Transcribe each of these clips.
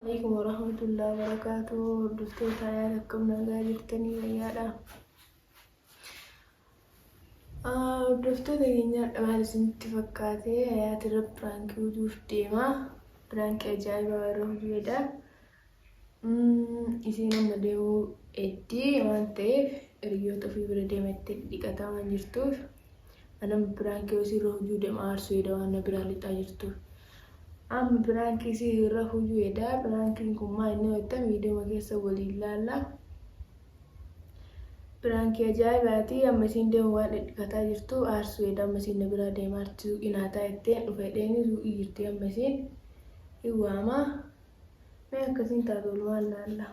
Aleykum warahmatullahi wabarakatuh hordoftoota ayaan akkam nagaa jirtanii fayyaadha hordoftoota keenyaadha maal isinitti fakkaate ayaati irra piraankii utuuf deema piraankii ajaa'ibaa yeroo hojjedha isiin amma deemuu eddii waan ta'eef hiriyoota ofii bira deemattee dhiqataa waan jirtuuf Anam biraan kee osii irra hujuu demaa arsuu edaa waan na biraa lixaa jirtuu. Am biraan kee si irra hujuu edaa biraan keen kun maa inni wayta miidiyoma keessa waliin laallaa. Biraan kee ajaa'ibaatii amma isiin deemu waan dhidhifataa jirtuu arsuu edaa amma isiin na biraa deemaa arti suuqii naa taa itteen dhufa edheeni suuqii jirtii amma isiin hin waamaa. Mee akkasiin taatu walumaan laallaa.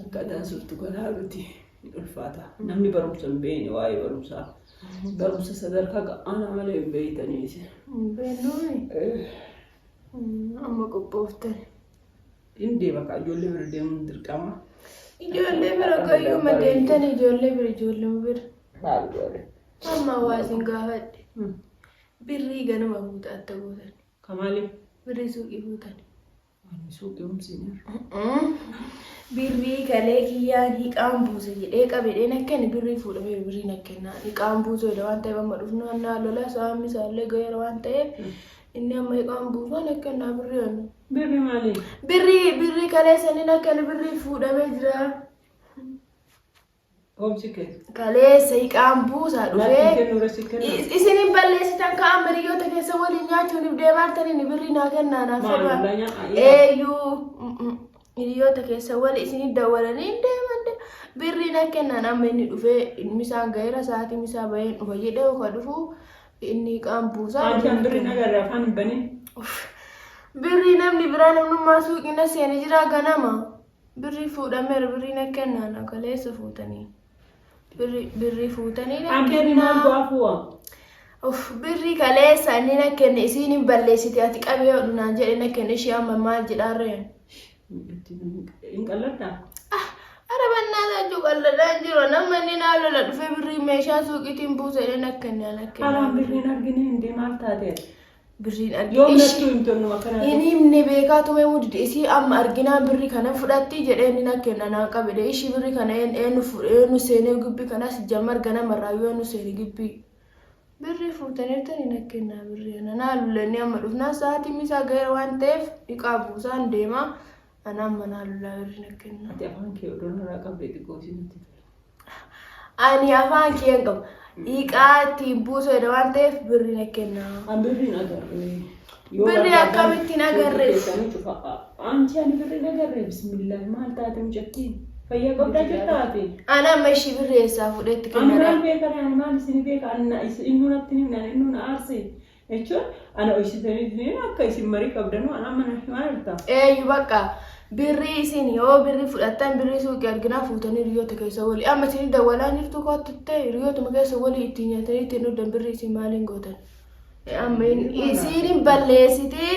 Akka daansurtu garaa miti hin ulfaata. Namni barumsa hin beekne waa'ee barumsaa. Barumsa sadarkaa ga'aanaa malee hin beektanii isin. Hin beeknuumi. Eh, Mm, Amma qophooftan. Hin deema kaa ijoollee bira deemuun dirqama. Ijoollee bira qayyuma deemtan ijoollee bira ijoollee bira. Maal goone? Amma waa isin gaafadhe. Hmm. Birrii ganama fuuta atta gootan. Ka maaliif? Birrii suuqii fuutan. Birrii galee kiyyaan hiqaan buuse jedhee qabedheen akka inni birrii fuudhamee birrii na kennaa hiqaan buusuu jedha waan ta'eef amma dhufnu annaa lola saamni isaallee ga'eera waan ta'eef inni amma hiqaan buusuun akka innaa birrii annu. Birri maali? Birrii birrii galee saniin akka inni birrii fuudhamee jira. Obsi kee. Kalee seeqaan buusaa Maal dhufee. kee nurra si kenna? Is- Isin hin balleessitan ka'an hiriyoota keessa waliin nyaachuun if deemaartaniin birrii naa kennaa naaf Maal fedhaa. ollaa nyaa- Eeyyuu mm, mm, hiriyoota keessa wali isin dawwalanii hin deeman de- birrii naa kennaan amma inni dhufee inni isaan gaheera sa'aatii misaa baheen dhufa jedhee oka dhufu inni qaan buusaa. Ati kan birri na garraa afaan hin banin. Birrii namni biraa namnummaa suuqiina seene jira ganama. Birrii fuudhameera birrii na kennaa na kaleessa fuutanii. Birrii birrii fuutanii na Abbee maal kennaa. go'a fu'a? Of birrii kaleessa inni na kenne isiin hin balleessite ati qabee hodhu naan jedhe na kenne ishee amma maal jedhaarreen. Hin qalladdaa? Ah ara bannaa saachuu qalladhaa hin jiru nama inni naa lola dhufee birrii meeshaa suuqiitiin buusa jedhee na kenne na kenne. Haraan birrii hin argine hundee maal taatee? Birrii dhabdee. Yoo Ishi- nattuu hin tolnu akkanaa. Hin himne beekaa tumee mudde isii amma arginaan birri kana fudhatti jedhee inni na kenna naa qabede ishii birri kana een- eenu fu- eenu seenee gibbii kanas jammar ganama irraa yoo eenu seene gibbii birri fuutaniirtani na kennaa birri kana naa lullennee amma dhufnaa sa'aatiin isaa ga'ee waan ta'eef dhiqaa buusaan deemaa Anaan manaa lulaa birri na kenna. Ati afaan kee odoo narraa qabdee xiqqoo si natti tola. Ani afaan kee hin qabu. Dhiiqaa ittiin buusu jedha waan ta'eef birri na kenna. An birriin agarre. Yoo Birri barbaadan akkamittiin suuqii agarre? keessanii cufa. Amti ani birriin agarre bismillah maal taate mucattiin fayyaa qabdaa jirtaa ati. Ana amma ishii birri eessaa fuudhetti Ani maal kennadha. beekan ani maal isin beeka anna innuu natti himnaan innuu na aarse jechuun ana hoysitaniif hin akka isin marii qabdanuu anaa mana himaa jirta. Eeyyu bakka birrii isin yoo birrii fudhattan birrii suuqii arginaa fuutanii hiriyoota keessa walii amma isin dawwalaa jirtu kootti ta'e hiriyootuma keessa walii ittiin nyaatanii ittiin dhugdan birrii isin maaliin gootan. Amma isin balleessitee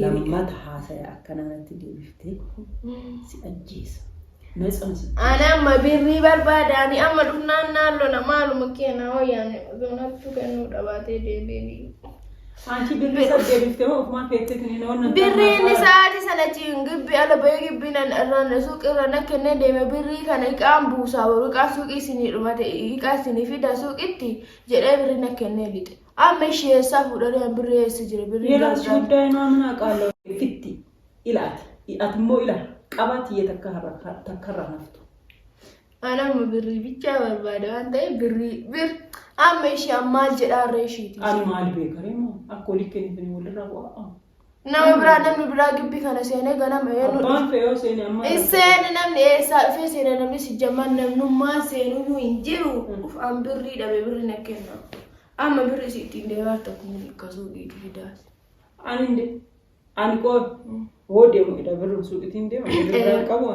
Lammata haasaya akkana natti deebiftee si ajjeesa. Na cimsi. Ani amma birrii barbaada ani amma dhufnaan naan lola maaluma keena hoyyaan doonattu kennuu dhabaatee deebiin. Anchi birrii sab deebiftee hoo ofumaa keetti tuni na onnattaa. Birriin isaati sana ciin gibbi ala bahee gibbi nan irraan suuqii irra na kennee deeme birrii kana iqaan buusaa boru iqaan suuqii isinii dhumate iqaa isinii fidaa suuqitti jedhee birrii na kennee lixe. Amma ishee eessaa fuudhanii an birri eessa jira birri Yeroo si gargaara. guddaa inaa mana qaala fitti ilaati. Ati immoo ila qabaa tiyya takka harra takka irraa haftu. An amma birrii bichaa barbaada waan ta'eef birrii bir amma ishee an maal jedhaarra isheeti. Ani maal beekaree moo akka olii kennitan walirraa bu'aa. Nama biraa namni biraa gibbii kana seenee ganama eenyu Abbaan fe'oo seene amma. Iseen namni eessaa dhufee seena namni si jammaan namnummaan seenuu hin jiru. Uf an birrii dhabe birri na kenna. Amma birri si ittiin deemaa tokko hin hiikkasuu dhiitu fidaa. Ani hin de- ani qoor. Hoo deemu edha birri suuqitiin deema. Birri qabu.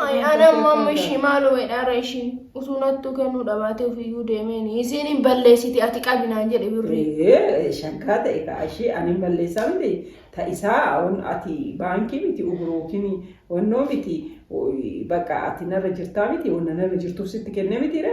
Ay, ana amma amma ishii maaloo jedhaara ishii utuu nattuu kennuu dhabaatee ofiyyuu deemeen isiin hin balleessiti ati qabi naan jedhe birrii. Ee, shakkaa ta'e ka ishii ani hin balleessaa miti ta isaa on ati baankii miti uguruukin onnoo miti o- bakka ati narra jirtaa miti onna narra jirtuuf sitti kennee mitiire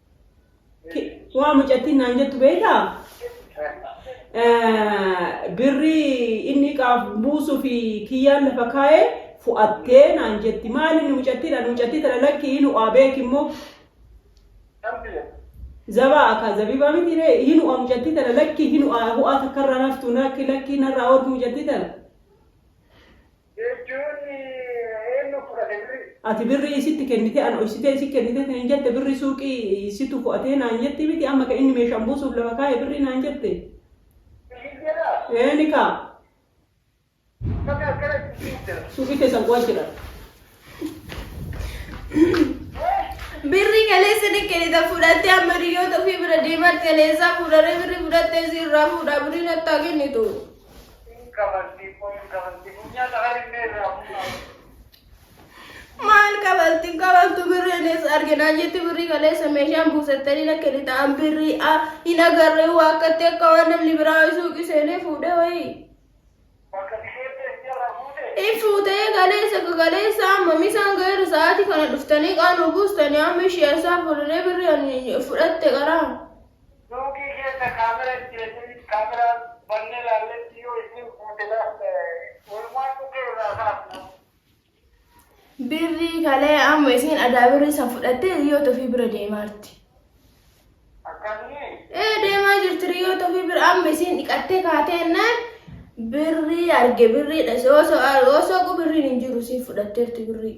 Ki- Waa mucattiin naan jettu beektaa? Eh, Birrii inni qaaf buusuu fi kiyyaan lafa kaa'ee fu'attee naan jetti. Maali inni mucattiin ani mucattii tana lakkii hin u'aa beeki immoo zabaa akka zabibaa miti ree hin u'aa mucattii tana lakkii hin u'aa hu'aa takkarraa naftu lakki lakkii narraa ooltu mucattii tana. Jechuun eennu fudhate birrii? Ati birrii isitti kennitee ana dhoysitee isi kennitee naan jette birrii suuqii situ fo'atee naan jetti miti amma ka inni meeshaan buusuuf lafa kaa'e birrii naan jette. Siif jedhaa? Eeni kaa. Uffata akkana itti siif jedha. Suuqii keessan qo'achidha. Birrii kaleessa ni kennita fudhattee amma hiriyoota ofii bira deemaatti kaleessaa fuudharee birrii fudhattee si irraa fuudhaa birrii nattaa kennitu. Hin kabalti immoo hin kabalti funyaan harinnee irraa fuudhaa. Maal kabalti hin kabaltu birrii nees arginaa jetti birrii kaleessa meeshaan buusattanii na kennitaan birrii a hin agarree waakkatti akka waan namni biraa wayii suuqii seenee fuudhee wayii. Bakka dhikeettee hin jarraa fuutee. Hin fuutee kaleessa akka kaleessa amma misaan gaheera sa'aatii kana dhuftanii qaanuu buustanii amma ishee isaa fuudhanii birrii ani fudhatte qaraa. Suuqii keessa camera hin keessin camera bannee laalletti yoo isiin fuute laafta walumaan dhukkee irraa kaafna. Birrii kalee amma isiin adaa birrii san fudhattee riyyoota ofii bira deemaa jirti. Akkamni? Ee deemaa jirti riyyoota ofii bira amma isiin dhiqattee kaatee naan birrii arge birrii dhase osoo osoo birriin hin jiru isiin fudhatteerti birrii.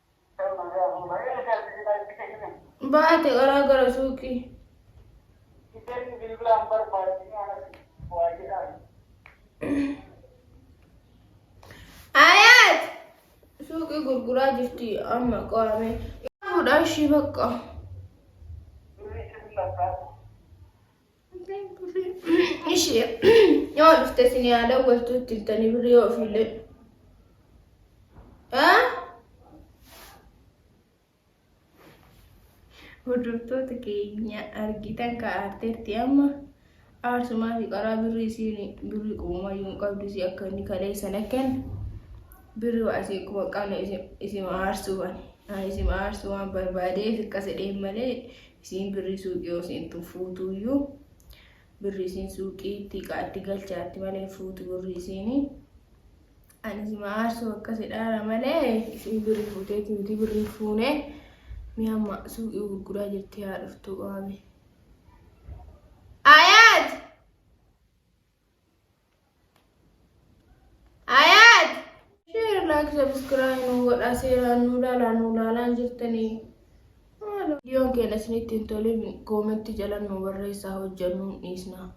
Baate qaraa gara suuqii. Ayaat suuqii gurguraa jirti amma qo'ame. Fuudhaa ishii bakka. Ishee yoo dhufte isin yaa dawwaltu itti iltanii birrii yoo ofiillee. Haa? Hordoftoota keenya argitan kaa'arteetti amma aarsumaa fi qaraa birrii isiin birrii qumayyuu hin qabdu isii akka inni kalee sana kennu birri waa isii kuma qabne isima aarsuu waan isima aarsuu waan barbaadee fi akkasa dheen malee Isiin birrii suuqii yoo seentu fuutuuyyu birrii isiin suuqiitti qaaddi galchaatti malee hin fuutu birrii isiini. Ani sima aarsuu akkasi dhaara malee isiin birrii fuuteeti miti birrii fuune mi amma suuqii gurguraa jirti haa dhuftu waame. Ayaat! Ayat! Share, like, subscribe nu godha seeraan nu ilaalaa nu ilaalaan jirtanii. Maaloo viidiyoon keenya isinitti hin tolin koometti jala nu barreessaa hojjannu hin dhiisna.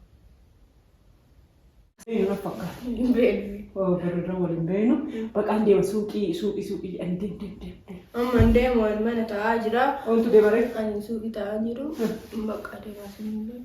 Yeroo fakkaata. Hin beeknu. Oo bareeda waliin beenu. Baqaan deema suuqii suuqii suuqii jedhan deem deem deem deem. Amma hin deemu ani mana taa'aa jira. Ooltu deemaree. Ani suuqii taa'aa jiru. Bakka deemaa sun hin beeku.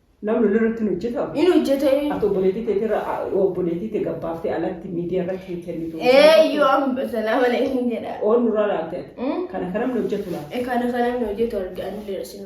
Namni lolli irratti hin hojjetaa? Hin hojjetee. Ati obboleettii teetii irra obboleettii tee gabbaaftee alatti miidiyaa irratti hin kennitu. Eeyyuu amma salaama alaikum jedha. Oon nurraa laalte ati. Mm. Kana kana namni hojjetu laata? Kana kana namni hojjetu arge anillee isin